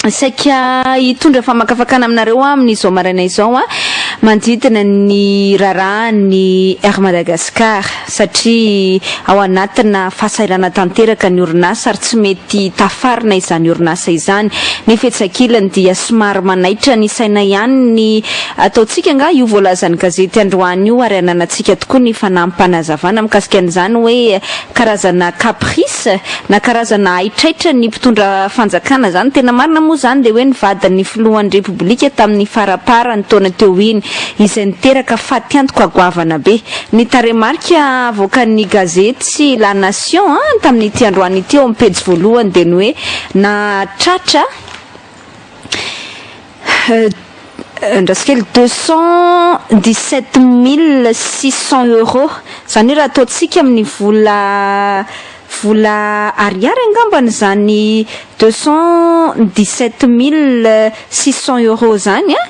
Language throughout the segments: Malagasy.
saika hitondra famakafakana aminareo amin'izao maraina izao a manodidina ny raharahan'ny Air Madagascar satria ao anatina fahasairana tanteraka ny orinasa ary tsy mety tafarina izany orinasa izany. Nefa etsy ankilany dia somary manaitra ny saina ihany ny Ataontsika angaha io voalazan'ny gazety androany io ary ananantsika tokoa ny fanampim-panazavana mikasika an'izany hoe karazana caprice na karazana haitraitran'ny mpitondra fanjakana izany. Tena marina moa izany dia hoe ny vadin'ny filohan'ny Repoblika tamin'ny faraparan'ny taona teo iny izay niteraka fatiantoka goavana be. Ny tarehimarika avoakan'ny gazety La Nation tamin'ity androany ity eo amin'ny pejy voalohany dia ny hoe nahatratra Andraso kely, deux cent dix sept mille six cent euros, izany hoe raha ataontsika amin'ny vola vola ariary angambany izany deux cent dix sept mille six cent euros izany an!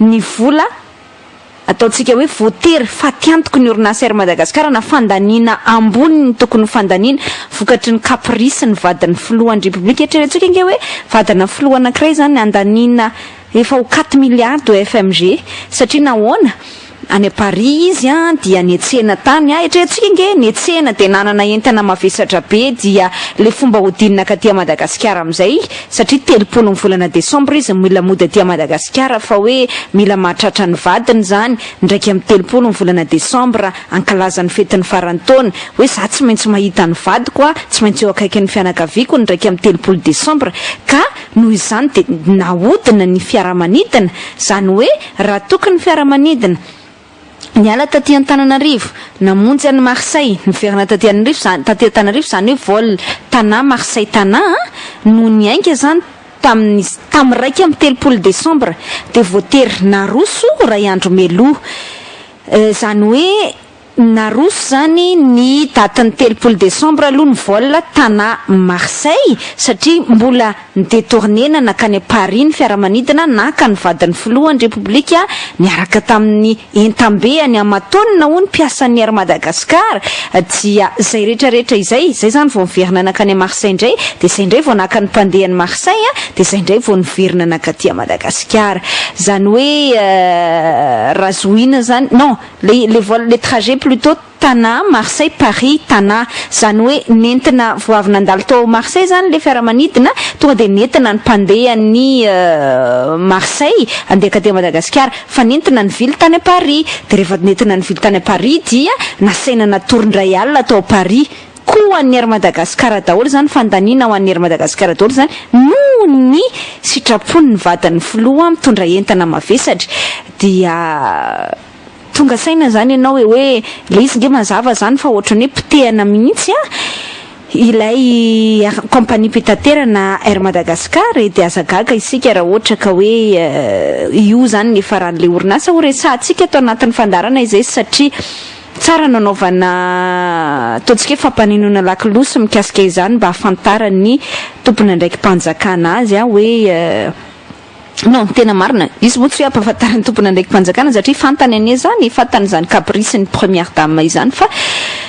ny vola ataontsika hoe voatery fatiantoky ny orinasa Air Madagascar na fandaniana ambony ny tokony ho fandaniany vokatry ny caprice ny vadin'ny filohan'ny Repoblika. Eritrerentsika ange hoe vadina filoha anankiray izany handaniana efa ho quatre milliards au FMG satria nahoana? Any Paris izy an dia netsena tany a, eritreretintsika nge netsena dia nanana entana mavesatra be dia le fomba hodinina katy a Madagasikara amizay satria telopolo ny volana desambra izy no mila mody aty a Madagasikara fa hoe mila mahatratra ny vadiny zany ndraiky am telopolo ny volana desambra ankalaza ny fetin'ny faran'ny taona hoe za tsy maintsy mahita ny vadiko a tsy maintsy eo akaikin'ny fianakaviako ny ndraiky am telopolo desambra ka noho izany dia nahodina ny fiaramanidina zany hoe Raha toky ny fiaramanidina, niala taty Antananarivo, namonjy an'i Marseille, niverina taty Anrivo, taty Antananarivo, izany hoe vol Tana, Marseille Tana, no niainga izany tamin'ny tamin'ny iraika amby telopolo desambra, dia voatery naroso iray andro mialoha. Izany hoe. Naroso izany ny datin'ny telopolo desambra aloha ny vol Tana Marseille satria mbola ni-detourner-na nankany Paris ny fiaramanidina naka ny vadin'ny filohan'ny Repoblika niaraka tamin'ny entam-beany aman-taonina hoy ny mpiasan'ny Air Madagascar dia izay retraretra izay izay izany vao niverina nankany Marseille indray dia izay indray vao naka ny mpandeha ny Marseille dia izay indray vao niverina nankaty Madagasikara izany hoe raha zohiana izany non Le le vol le trajet plutot Tana Marseille Paris Tana zany hoe nentina vao avy nandalo tao Marseille zany le fiaramanidina tonga de nentina ny mpandeha ny Marseille andeha ka dia Madagasikara fa nentina nivily tany a Paris de rehefa nentina nivily tany a Paris dia nasaina natory ndray alina tao Paris Koa ho an'ny Air Madagascar daholo izany fandaniana ho an'ny Air Madagascar daholo izany noho ny sitrapon'ny vadin'ny filoha mitondra entana mavesatra dia tonga saina izany ianao hoe hoe ilay izy nge mazava izany fa ohatran'ny hoe potehana mihitsy an ilay compagnie mpitaterana Air Madagascar e dia aza gaga isika raha ohatra ka hoe io izany ny hifaran'ilay orinasa horesahantsika ato anatin'ny fandaharana izay satria Tsara ny hanaovana ataontsika hoe fampanenoana lakolosy mikasika izany mba hahafantaran'ny tompon'andraiki-panjakana azy hoe non, tena marina, izy moa tsy hoe hampahafantarin'ny tompon'andraiki-panjakana satria fantany anie izany e, fantany izany caprice ny première dame izany fa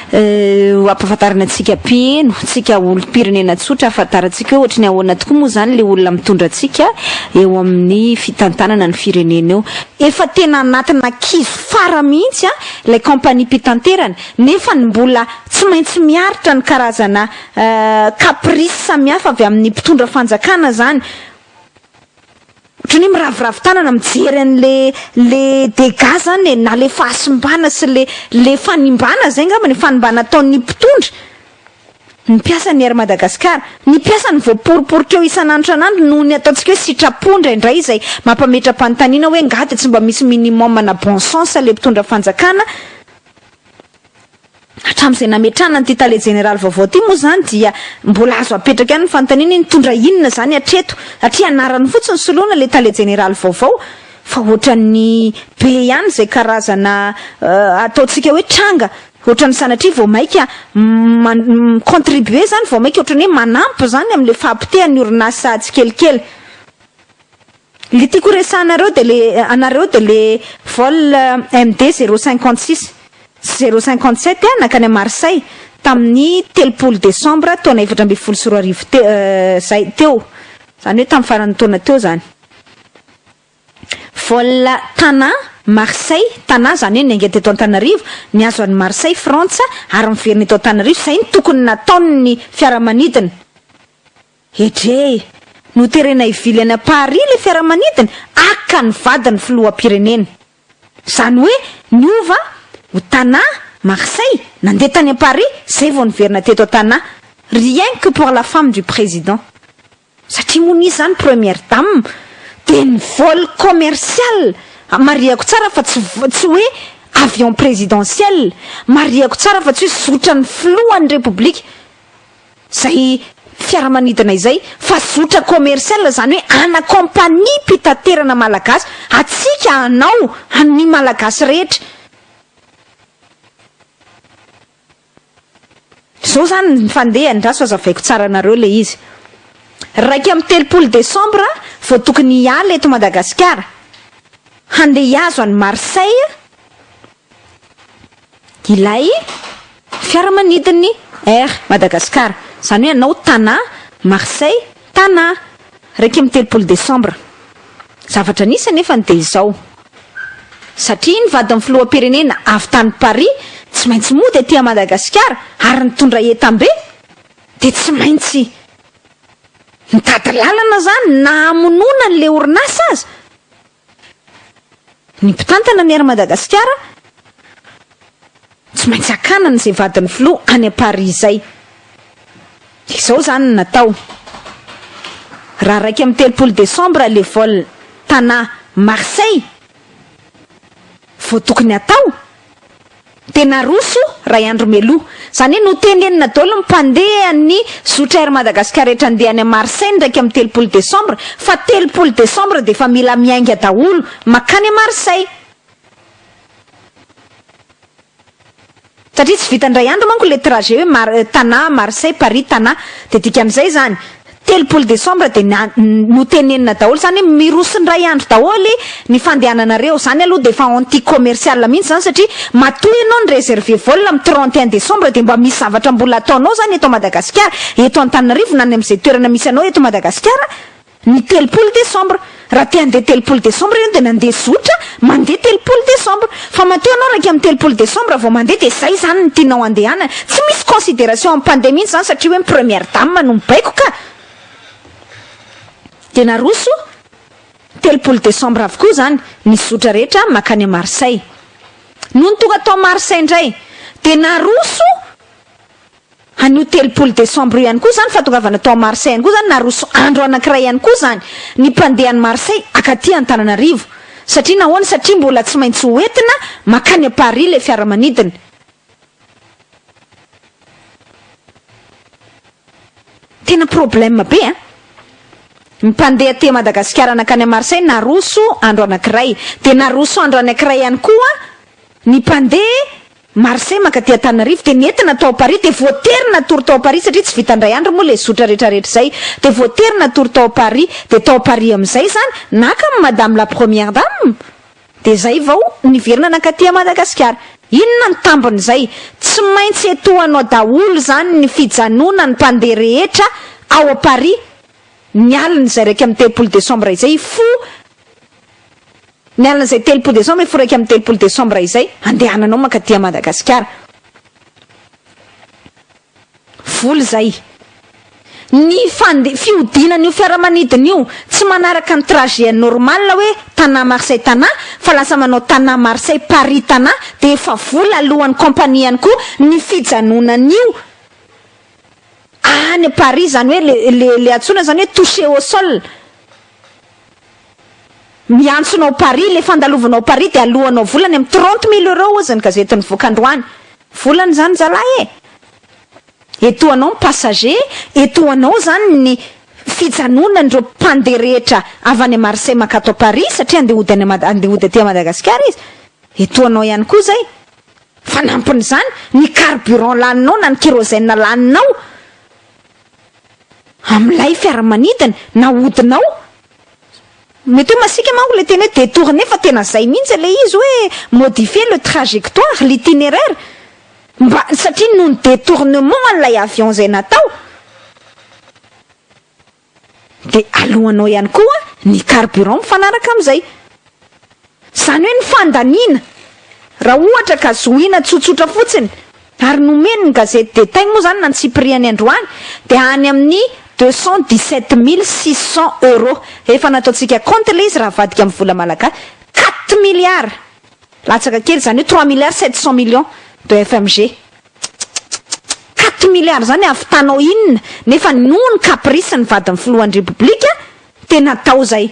ho ampahafantarina antsika mpiheno, antsika olom-pirenena tsotra hahafantarantsika hoe ohatry ny ahoana tokoa moa izany ilay olona mitondra antsika eo amin'ny fitantanana ny firenena eo. Efa tena anatina kizo fara mihitsy an! ilay kaompania mpitanterana nefa ny mbola tsy maintsy miaritra ny karazana caprice samihafa avy amin'ny mpitondra fanjakana izany ohatran'ny hoe miraviravy tanana mijery an'le le dégâts izany e, na le fahasimbana sy le le fanimbana izay angamba ny fanimbana ataon'ny mpitondra ny mpiasan'ny Air Madagascar, ny mpiasany voaporiporitra eo isan'andro isan'andro noho ny ataontsika hoe sitrapo indraindray izay mampametra-panontaniana hoe angaha dia tsy mba misy minimum na bon sens ilay mpitondra fanjakana hatramin'izay nametrahana an'ity tale jeneraly vaovao ity moa izany dia mbola azo apetraka ihany ny fanontaniana hoe nitondra inona izany hatreto satria anarany fotsiny soloina ilay tale jeneraly vaovao fa ohatran'ny be ihany izay karazana ataontsika hoe tranga Ohatran'ny sanatria vao maika mi-contribuer izany, vao maika ohatran'ny hoe manampy izany amin'ilay fahapotehan'ny orinasa tsikelikely. Ilay tiako horesahanareo dia ilay, anareo dia ilay vol MD zéro cinquante six sy zéro cinquante sept nankany à Marseille tamin'ny telopolo desambra taona efatra ambin'ny folo sy roa arivo teo, izay teo, izany hoe tamin'ny faran'ny taona teo izany. Vol Tana, Marseille, Tana izany hoe niainga teto Antananarivo, nihazo an'i Marseille, Frantsa, ary niverina eto Antananarivo, izay no tokony nataon'ny fiaramanidina. Edrey! Noterena hivily any Paris ilay fiaramanidina, aka ny vadin'ny filoham-pirenena. Izany hoe niova ho Tana, Marseille, nandeha tany Paris, izay vao niverina teto Tana. Rien que pour la femme du président. Satria moa nisy zany première dame dia ny vol commercial marihako tsara fa tsy tsy hoe avion présidentiel marihako tsara fa tsy hoe zotran'ny filohan'ny repoblika izay fiaramanidina izay fa zotra commercial izany hoe ana compagnie mpitaterana malagasy antsika anao an'ny malagasy rehetra Zao zany ny fandehany ndraso azavaiko tsara anareo le izy. Raika amby telopolo desambra vao tokony hiala eto Madagasikara handeha hiazo an'i Marseille ilay fiaramanidin'ny Air Madagascar. Zany hoe anao Tana, Marseille, Tana, iraika amby telopolo desambra. Zavatra nisy anefany dia izao, satria ny vadin'ny filoham-pirenena avy tany Paris tsy maintsy mody aty Madagasikara ary nitondra entam-be dia tsy maintsy nitady lalana izany na hamonoana an'ilay orinasa aza. Ny mpitantana ny Air Madagasikara tsy maintsy hakana an'izay vadin'ny filoha any Paris izay. Dia izao izany no natao. Raha iraika amby telopolo desambra ilay vol Tana Marseille vao tokony hatao. dia naroso ray andro mialoha. Izany hoe notenenina daholo ny mpandeha ny zotra Air Madagascar rehetra handeha any Marseille ny iraika amby telopolo desambra fa telopolo desambra dia efa mila miainga daholo makany Marseille. Satria tsy vitan-dray andro manko ilay trajet hoe Mar, Tana, Marseille, Paris, Tana. Dia dikan'izay izany. Telopolo desambra dia ny notenenina daholo izany hoe miroso indray andro daholo ny fandehananareo, izany aloha dia efa anti commercial mihintsy izany satria matoa ianao ny reserver vol am trente et un desambra dia mba misy zavatra mbola ataonao izany eto Madagasikara, eto Antananarivo na any amin'izay toerana misy anao eto Madagasikara ny telopolo desambra. Raha te handeha telopolo desambra ianao dia nandeha zotra mandeha telopolo desambra. Fa matoa ianao raika amin'ny telopolo desambra vao mandeha dia izay izany no tianao handehanana. Tsy misy consideration amin'ny mpandeha mihitsy izany satria hoe ny première dame no mibaiko ka. Dia naroso telopolo desambra avokoa izany ny zotra rehetra mankany à Marseille. Nony tonga tao Marseille indray dia naroso. Anio telopolo desambra io ihany koa izany fahatongavana tao Marseille ihany koa izany naroso andro anankiray ihany koa izany ny mpandeha any Marseille akaty Antananarivo. Satria nahoana? Satria mbola tsy maintsy ho entina makany à Paris ilay fiaramanidina. Tena problème be an! Ny mpandeha aty Madagasikara nankany à Marseille naroso andro anankiray. Dia naroso andro anankiray ihany koa ny mpandeha Marseille maka aty Antananarivo dia nentina tao Paris dia voatery natory tao Paris satria tsy vita indray andro moa ilay zotra rehetra rehetra izay dia voatery natory tao Paris dia tao Paris amin'izay izany naka amin'i madame la première dame dia izay vao niverina nankaty à Madagasikara. Inona ny tambin'izay? Tsy maintsy etohanao daholo izany ny fijanonan'ny mpandeha rehetra ao Paris ny alin'izay iraika amby telopolo desambra izay hifoha Ny alin'izay telopolo desambra hifoha iraika amby telopolo desambra izay, handehananao mankaty à Madagasikara. Vola izay. Ny fande, fihodinan'io fiaramanidina io, tsy manaraka ny trajet normal hoe Tana Marseille Tana, fa lasa manao Tana Marseille Paris Tana, dia efa vola alohan'ny compagnie ihany koa ny fijanonan'io any Paris, izany hoe le, le, le antsoina izany hoe touché au sol. Miantsona ao Paris, le fandalovana ao Paris de aloanao vola any am trente mille euros ozy ny gazety nivoaka androany. Volana izany zalahy e! Etoa anao ny passager, etoa anao izany ny fijanonan'ireo mpandeha rehetra avy any Marseille mankà ato Paris satria andeha hody any andeha hody aty Madagasikara izy. Etoa anao ihany koa izay. Fanampin'izany, ny carburant laninao na ny kérosène laninao. amin'ilay fiaramanidina na hodinao. Mety hoe masiaka manko ilay teny hoe détourner fa tena izay mihitsy ilay izy hoe modifier le trajectoire, l'itinéraire, mba satria noho ny détournement an'ilay avion izay natao. Dia aloanao ihany koa ny carburant mifanaraka amin'izay. Izany hoe ny fandaniana, raha ohatra ka zohiana tsotsotra fotsiny ary nomeny ny gazety Détail moa izany nantsipirihany androany dia any amin'ny deux cent dix sept mille six cent euros, efa nataontsika kaonty ilay izy raha avadika amin'ny vola malagasy, quatre milliards! latsaka kely izany hoe trois milliards sept cent millions de FMG. Tsitsitsitsits! quatre milliards izany hahavitanao inona? Nefa noho ny caprice ny vadin'ny filohan'ny Repoblika dia natao izay.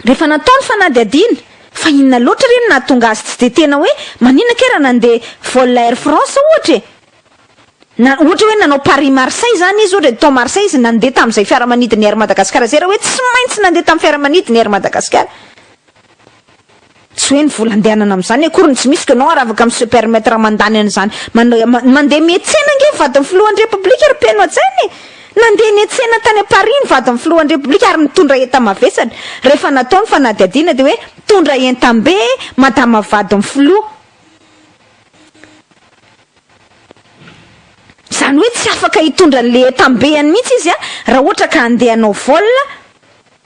Rehefa natao ny fanadihadiana fa inona loatra re no nahatonga azy tsy dia tena hoe maninona kay raha nandeha vol Air France ohatra e? Na ohatra hoe nanao Paris Marseille izany izy ohatra dia tao Marseille izy nandeha tamin'izay fiaramanidin'ny Air Madagascar izay raha hoe tsy maintsy nandeha tamin'ny fiaramanidin'ny Air Madagascar Tsy hoe ny vola andehanana amin'izany akory no tsy misy, koa ianao ary afaka mi-se permettre mandany an'izany. Mandeha mihetsena ange ny vadin'ny filohan'ny Repoblika ry Mpeno an-tsaina e! Nandeha nihetsena tany Paris ny vadin'ny filohan'ny Repoblika ary nitondra enta-mavesatra. Rehefa natao ny fanadihadiana dia hoe mitondra entam-be madama vadin'ny filoha. Izany hoe tsy afaka hitondra an'ilay entam-beany mihitsy izy raha ohatra ka handeha hanao vol.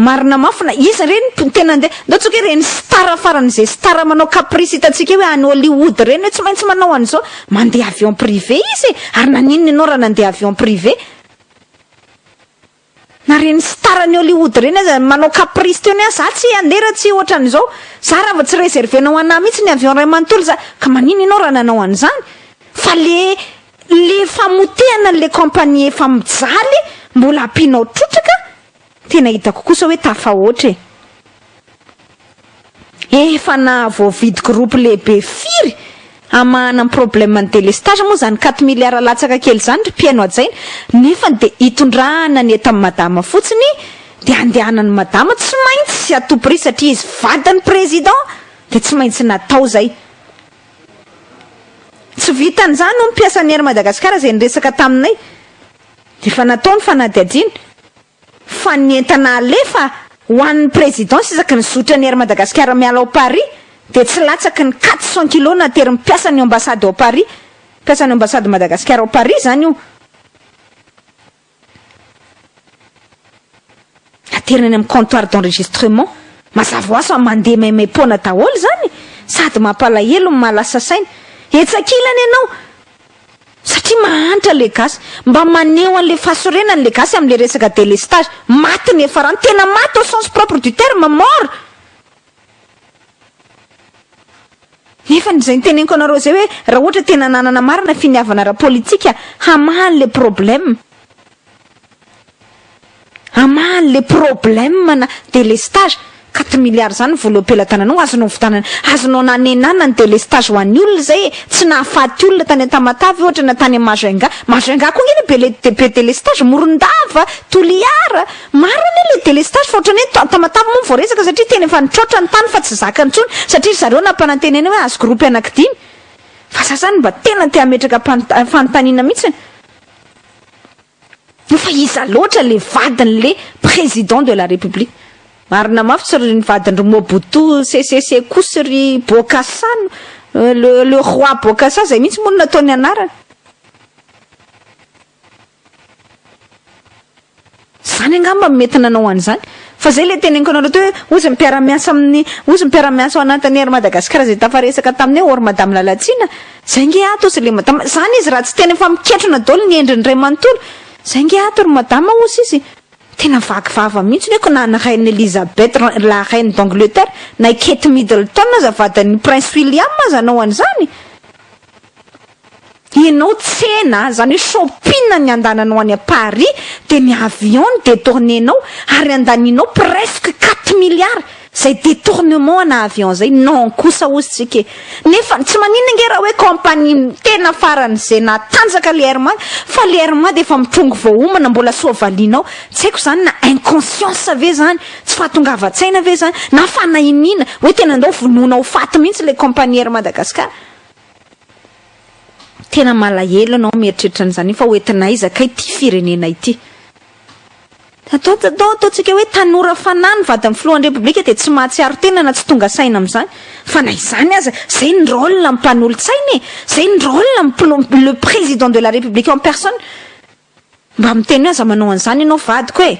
Marina mafy na iza re ny tena nde ndao tsoky hoe reny star farany izay star manao caprice hitantsika hoe any Hollywood reny hoe tsy maintsy manao an'izao mandeha avion privé izy e ary naninona ianao raha nandeha avion privé na reny star any Hollywood reny aza manao caprice teo ny ahy za tsy handeha raha tsy ohatran'izao za raha vao tsy reserver-nao anah mihitsy ny avion iray manontolo za ka maninona ianao raha nanao an'izany fa le le famotehana an'le compagnie efa mijaly mbola ampianao trotraka Tena hitako kosa hoe tafahoatra e! Efa nahavoavidy groupe lehibe firy hamahana ny problème ny délestage moa zany quatre milliards latsaka kely zany ry mpihaino hajaina nefany dia hitondrahana ny etan'i madama fotsiny dia handehanan'i madama tsy maintsy à tout prix satria izy vadin'ny président dia tsy maintsy natao zay. Tsy vitan'izany hono mpiasan'ny Air Madagascar izay niresaka taminay. Efa natao ny fanadihadiana fa ny entana alefa ho an'ny Présidence isaky ny zotra ny Air Madagascar miala ao Paris dia tsy latsaky ny quatre cent kilos naterin'ny mpiasan'ny Ambassade ao Paris, mpiasan'ny Ambassade Madagascar ao Paris izany io, aterina any amin'ny comptoir d'enregistrement. Mazava ho azy fa mandeha maimaim-poana daholo izany e! Sady mampalahelo no mahalasa saina. Etsy ankilany ianao. Satria mahantra le gasy. Mba maneho an'le fahasorenany le gasy amle resaka delestage. Maty ny efarano. Tena maty au sens propre du terme, mort. Nefany izay niteneniko anareo izay hoe raha ohatra tena nanana marina finiavana ara-politika hamaha an'le problème. Aman le problème na délestage, quatre milliards zany vola eo am-pelatananao azonao vitanana, azonao nanenana ny délestage ho an'ny olona zay e, tsy nahafaty olona tany Antamatave ohatra na tany Majunga, Majunga koa ange le be be délestage, Morondava, Toliara, maro anie le délestage fa ohatran'ny hoe Tamatave moa no voaresaka satria tena efa nitroatra ny tany fa tsy zakany intsony satria ry zareo nampanantenaina hoe azo gropy anankidimy fa za zany mba tena te hametraka fanontaniana mihitsy Io fa iza loatra le vadin le président de la république? Marina maftsy ry ny vadin ry Mobutu sese se kosy ry Bokassa no le le roi Bokassa zay mihitsy moa no nataony anarany. Zany angamba no mety nanao an'izany. Fa zay le teneniko anareo teo hoe ozy mpiara-miasa amin'ny ozy mpiara-miasa ao anatin'ny Air Madagascar zay tafaresaka taminay or madame Lalatsina Zay nge ato ozy le madama, zany izy raha tsy tena efa miketrona daolo ny endriny ray manontolo, zay nge ato ry madama ozy izy tena vaky vava mihintsy ny aiko na ny reine Elizabeth la reine d'Angleterre na i Kate Middleton aza vadin'ny prince William aza anao an'izany enao tsena zany hoe shopping ny andananao any à Paris de ny avion no detourner-nao ary andaninao presque quatre milliards Zay detournement ana avion zay non kosa ozy tsika e! Nefa tsy maninona nge raha hoe compagnie tena farany zay natanjaka le RMA fa le RMA dia efa mitrongy vao homana mbola soa valiana ao tsy haiko zany na inconscience ve zany tsy fahatongavan-tsaina ve zany na fanahiniana hoe tena ndao vonoina ho faty mihintsy le compagnie Air Madagascar tena malahelo anao mieritreritra an'izany fa ho entin'aiza kay ty firenena ity. Atao atao ataontsika hoe tanora fanahy ny vadin'ny filohan'ny Repoblika dia tsy mahatsiaro tena na tsy tonga saina amin'izany. Fa na izany aza, izay ny rôle ny mpanolotsaina e! Izay ny rôle ny mpilom, le président de la République en personne. Mba miteny hoe aza manao an'izany ianao vadiko e!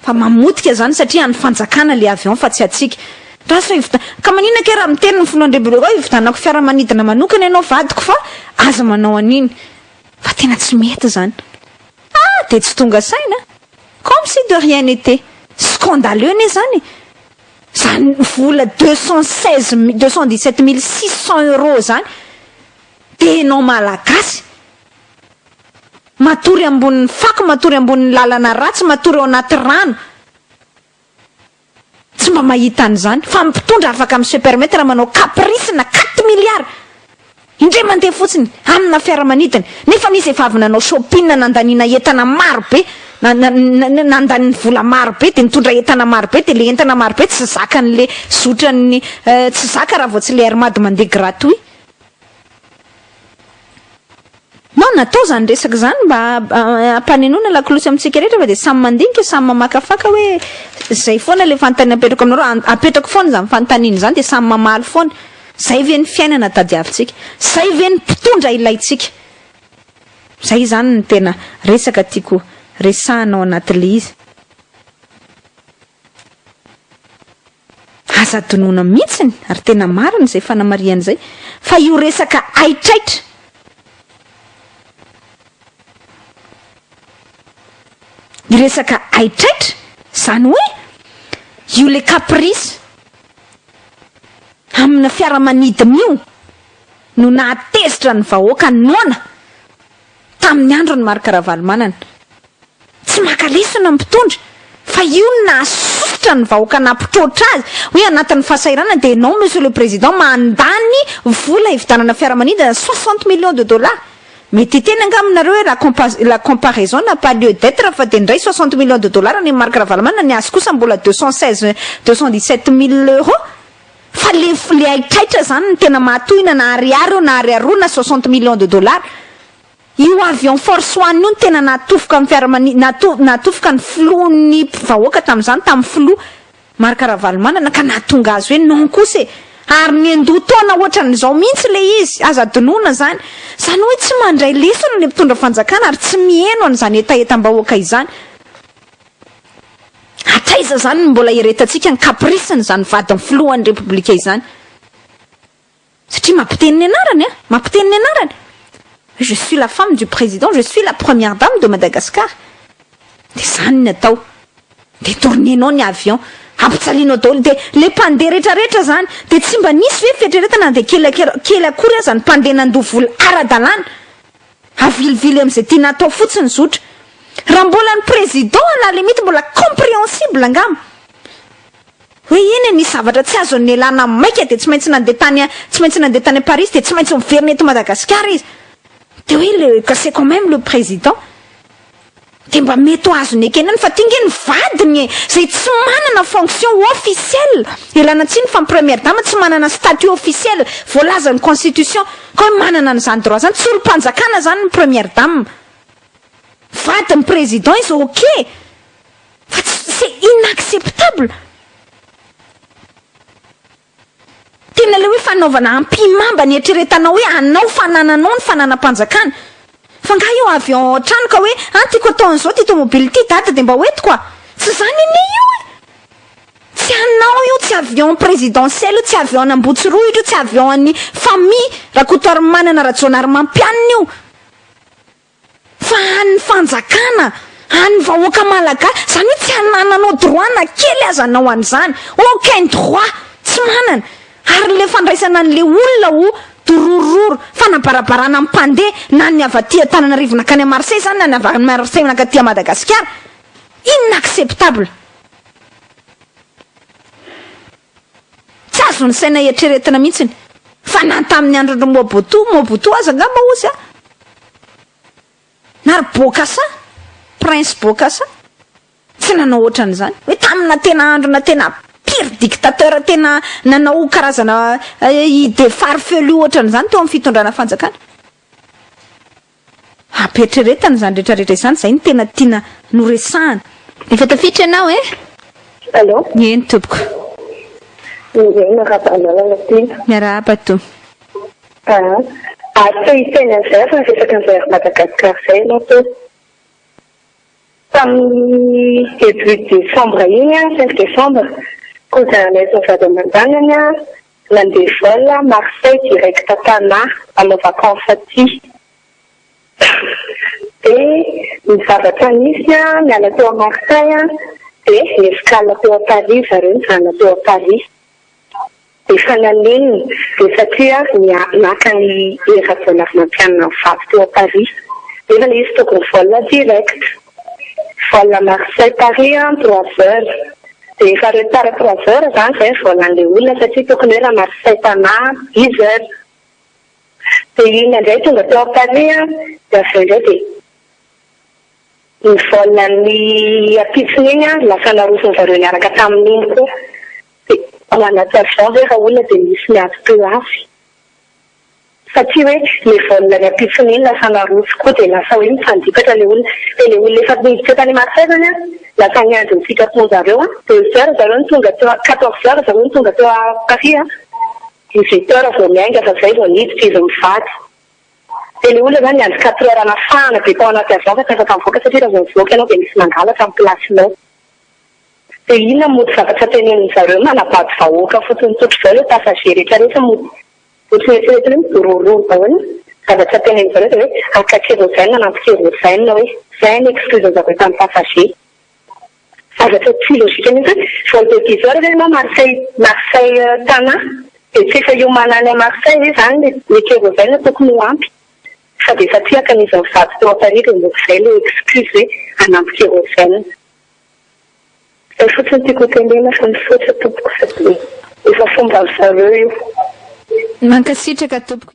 Fa mamotika izany satria an'ny fanjakana ilay avion fa tsy antsika. Raha sao ivida, ka maninona kay raha miteny ny filohan'ny Repoblika hoe ividanako fiaramanidina manokana ianao vadiko fa aza manao an'iny. Fa tena tsy mety izany. Ha! dia tsy tonga saina? Comme si de rien n'était! Scandaleux anie izany e! Izany vola deux cent seize mi- deux cent dix sept mille six cents euros izany dia ianao Malagasy matory ambonin'ny fako, matory ambonin'ny lalana ratsy, matory ao anaty rano Tsy mba mahita an'izany fa mpitondra afaka mi se permettre manao caprice na quatre milliards indray mandeha fotsiny amina fiaramanidina nefa misy efa avy nanao shopping nandaniana entana maro be na nandaniny vola maro be dia nitondra entana maro be dia le entana maro be tsy zakan'le zotran'ny tsy zaka raha vao tsy le air mad mandeha gratuit Non, natao izany resaka izany mba hampanenoana lakolosy amintsika rehetra fa dia samy mandinika, samy mamakafaka hoe izay foana ilay fanontaniana apetrako aminareo, apetrako foana izany fanontaniana izany dia samy mamaly foana. Izay ve ny fiainana tadiavintsika? Izay ve ny mpitondra ilaintsika? Izay izany no tena resaka tiako resahina ao anatin'ilay izy. Aza adinoina mihitsiny ary tena marina izay fanamarihana izay fa io resaka haitraitra io resaka haitraitra izany hoe io le caprice amina fiaramanidina io no nahatezitra ny vahoaka noana Tamin'ny andron'i Marc Ravalomanana. Tsy maka lesona ny mpitondra fa io no nahasosotra ny vahoaka nampitroatra azy hoe anatin'ny fahasahiranana dia ianao Monsieur le Président mandany vola hividanana fiaramanidina soixante millions de dollars. Mety hiteny angamba nareo hoe la compa la comparaison n'a pas lieu d'etre fa dia indray soixante millions de dollars an'i Marc Ravalomanana ny azy kosa mbola deux cent seize deux cent dix sept mille euros. Fa le le haitraitra zany no tena mahatohina na ariary eo na ariary roa na soixante millions de dollars. Io avion force one io no tena nahatofoka ny fiaramani nato nahatofoka ny filohan'ny vahoaka tamin'izany tamin'ny filoha Marc Ravalomanana ka nahatonga azy hoe non kosa e! ary niandoha taona ohatran'izao mihitsy le izy, aza adinoina zany. Zany hoe tsy mandray lesona le mpitondra fanjakana ary tsy miheno an'izany hetahetam-bahoaka izany. Hatraiza izany no mbola hiretantsika ny caprice-ny izany vadin'ny filohan'ny Repoblika izany? Satria mampiteny ny anarany an! Mampiteny ny anarany! Hoe je suis la femme du président, je suis la première dame de Madagascar. Dia izany ny atao. Dia dormienao ny avion. Ampijalianao daholo. Dia ilay mpandeha rehetrarehetra izany, dia tsy mba nisy ve fieritreretana na dia kely akory aza ny mpandeha nandoa vola ara-dalàna? Avilivilo amzay tiana atao fotsiny zotra. Raha mbola ny président à la limite mbola compréhensible angamba. Hoe eny e misy zavatra tsy azony nialana maika dia tsy maintsy nandeha tany tsy maintsy nandeha tany Paris izy dia tsy maintsy miverina eto Madagasikara izy. Dia hoe le c'est quand même le président. Dia mba mety ho azony ekena ny fa ty nge ny vadiny e! Zay tsy manana fonction officiel! Ialana tsiny fa ny première dame tsy manana statut officiel voalazan'ny constitution! Ka hoe manana an'izany droit zany! Tsy olom-panjakana zany ny première dame! Vadin'ny président izy ok! Fa tsy, c'est inacceptable! Tena ilay hoe fanaovana ampihimamba ny eritreretanao hoe anao fanananao ny fananam-panjakana. Fa angaha io avy ao an-trano ka hoe an tiako atao an'izao ity tomobily ity dada dia mba hoentiko a! Tsy izany anie io e! Tsy anao io, tsy avy ao amin'ny présidentielle io, tsy avy ao an'Ambotsirohitra io, tsy avy ao an'ny famille Rakotoarimanana Rajaonarimampianina io. Fa an'ny fanjakana, an'ny vahoaka malagasy, izany hoe tsy anananao droit na kely aza anao an'izany, aucun droit, tsy manana, ary le fandraisana an'le olona ho dororororo, fanabarabarana ny mpandeha, na ny avy aty Antananarivo nankany à Marseille izany na ny avy any Marseille mankaty à Madagasikara, inacceptable. Tsy azon'ny saina eritreretina mihitsiny fa na tamin'ny andron-dry Mobutu, Mobutu aza angamba hozy a! na ry Bokassa, Prince Bokassa, tsy nanao ohatran'izany. Hoe tamina tena androna tena pire dictateur tena nanao karazana idée farfelue ohatran'izany teo amin'ny fitondrana fanjakana. Ampiheritreretana izany rehetra rehetra izany, izay no tena tiana noresahana. Efa tafiditra ianao eh? Allô? Eny tompoko. Indray miarahaba anarana tena. Miarahaba toa. Aa, ary te hiteny an'izay raha resaka an'izay Air Madagascar izay ianao teo. Tamin'ny début décembre iny, cinq décembre, cousin anay sy ny vady aman-janany nandeha vol Marseille direct Tana hanao vacances aty. Dia ny zavatra nisy, niala teo Marseille dia ni-escale teo Paris zareo nijanona teo Paris. Efa nanenina dia satria naka an'i Hery Rajaonarimampianina mivady teo Paris nefa ilay izy tokony vol direct, vol Marseille Paris an trois heures dia efa retard trois heures izany izay ny vol an'ilay olona satria tokony hoe raha Marseille Tana dix heures dia iny indray tonga teo Paris an dia avy eo indray dia ny vol an'ny ampitsony iny an lasa narosony zareo niaraka tamin'iny koa Dia manatsara izao ve Raoul dia misy miady teo avy. Fa tsy hoe le vol ny ampitsony iny lasa naroso koa dia lasa hoe mifandipatra le olona. Dia le olona efa niditra tany Marseille zany an, lasa niandry ny sitrapon zareo an, deux heures zareo no tonga teo, quatorze heures zareo no tonga teo Paris an, dix huit heures vao miainga fa zay vao niditra izy mivady. Dia le olona zany niandry quatre heures anafahana dia tao anaty avion fa tsy afaka nivoaka satria raha vao mivoaka ianao dia misy mangalatra am plasinao. Tsy dia inona mody zavatra tenenin-dry zareo hoe manabado vahoaka fotsiny tsotra izao ilay passager rehetra rehetra mody ohatry ny eritreretiny hoe midorororo daholo zavatra tenenin-dry zareo dia hoe haka kérosène hanampy kérosène hoe izay any excluse-ny zavatra tamin'ny passager zavatra tsy logique mihintsy hoe vao dia bizarre ve ianao Marseille Marseille Tana dia tsy efa hiomana any Marseille ve izany ilay kérosène tokony ho ampy fa dia efa tsy haka ny izy mivady teo Paris dia mody izay ilay excuse hoe hanampy kérosène. Zay fotsiny tiako ho tenenina fa misaotra tompoko fa dia efa fomba ry zareo io. Mankasitraka tompoko.